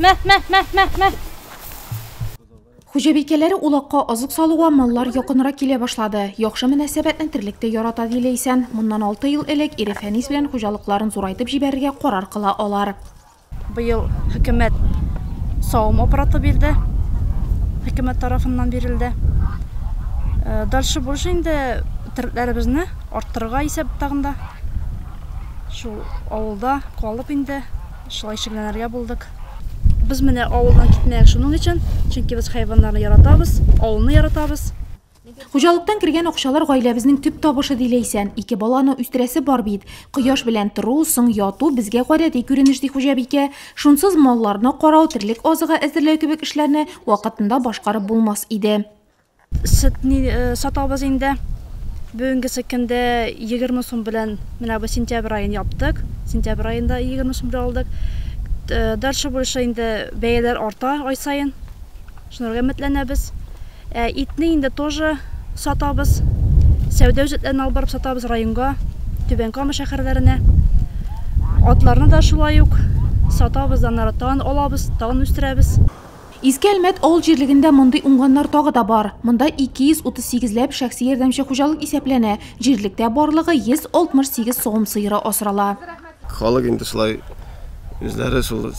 Мә, мә, мә, мә, мә. Хуҗабикәләре улакка азык салуга маллар якынрак килә башлады. Яхшы мөнәсәбәтне терлек тә ярата, ди Ләйсән. Моннан алты ел элек ире Фәнис белән хуҗалыкларын зурайтып җибәрергә карар кыла алар. Быел хөкүмәт савым аппараты бирде. Хөкүмәт тарафыннан бирелде. Э, дальше больше инде терлекләребезне арттырырга исәп тагында. Шул авылда калып инде Шулай шикләнергә булдык. Без менә авылдан китмәяк шуның өчен, чөнки без хайваннарны яратабыз, авылны яратабыз. Хуҗалыктан кергән акчалар гаиләбезнең төп табышы, ди Ләйсән. Ике баланы үстерәсе бар бит. Кояш белән тору, соң яту безгә гадәти күренеш, ди хуҗабикә. Шунсыз малларны карау, терлек азыгы әзерләү кебек эшләрне вакытында башкарып булмас иде. Сөтне сатабыз инде. Бүгенгесе көндә 20 сум белән менә бу сентябрь аен яптык. Сентябрь аенда 20 сум белән алдык. Дальше больше инде бәяләр арта ай саен. Шунарга өметләнәбез. Ә итне инде тоже сатабыз. Сәүдә үзәкләренә алып барып сатабыз районга, Түбән Кама шәһәрләренә. Атларны да шулай ук сатабыз, аннары тагын алабыз, тагын үстерәбез. Иске Әлмәт авыл җирлегендә мондый уңганнар тагы да бар. Монда 238 ләп шәхси ярдәмче хуҗалык исәпләнә, җирлектә барлыгы 168 савым сыеры асрала. Халык инде шулай үзләре шул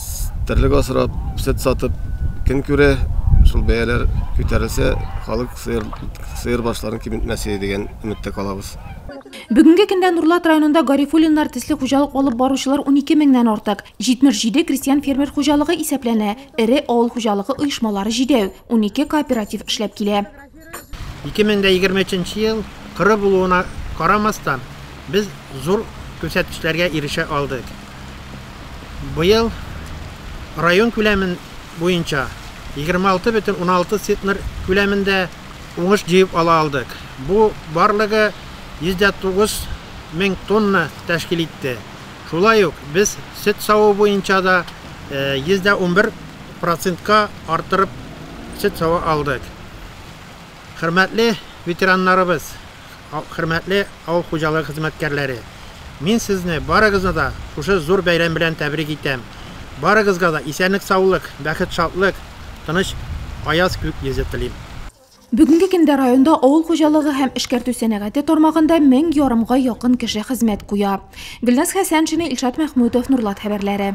терлек асрап, сөт сатып көн күрә. Шул бәяләр күтәрелсә, халык сыер сыер башларын киметмәсе дигән өметтә калабыз. Бүгенге көндә Нурлат районында Гарифуллиннар төсле хуҗалык алып баручылар унике меңнән артык, 77 крестьян-фермер хуҗалыгы исәпләнә. Эре авыл хуҗалыгы оешмалары җидәү, унике кооператив эшләп килә. 2023 ел коры булуына карамастан, без зур күрсәткечләргә ирешә алдык. Быел район күләме буенча 26,6 центнер күләмендә уңыш җыеп ала алдык. Бу барлыгы 109 мең тонна тәшкил итте. Шулай ук без сөт саву буенча да 111 процентка арттырып сөт сава алдык. Хөрмәтле ветераннарыбыз, хөрмәтле авыл хуҗалыгы хезмәткәрләре, мин сезне барыгызны да шушы зур бәйрәм белән тәбрик итәм. Барыгызга да исәнлек-саулык, бәхет-шатлык, тыныч аяз күк йөзе телим. Бүгенге көндә районда авыл хуҗалыгы һәм эшкәртү сәнәгате тармагында мең ярымга якын кеше хезмәт куя. Гөлназ Хәсәншина, Илшат Мәхмүтов, Нурлат хәбәрләре.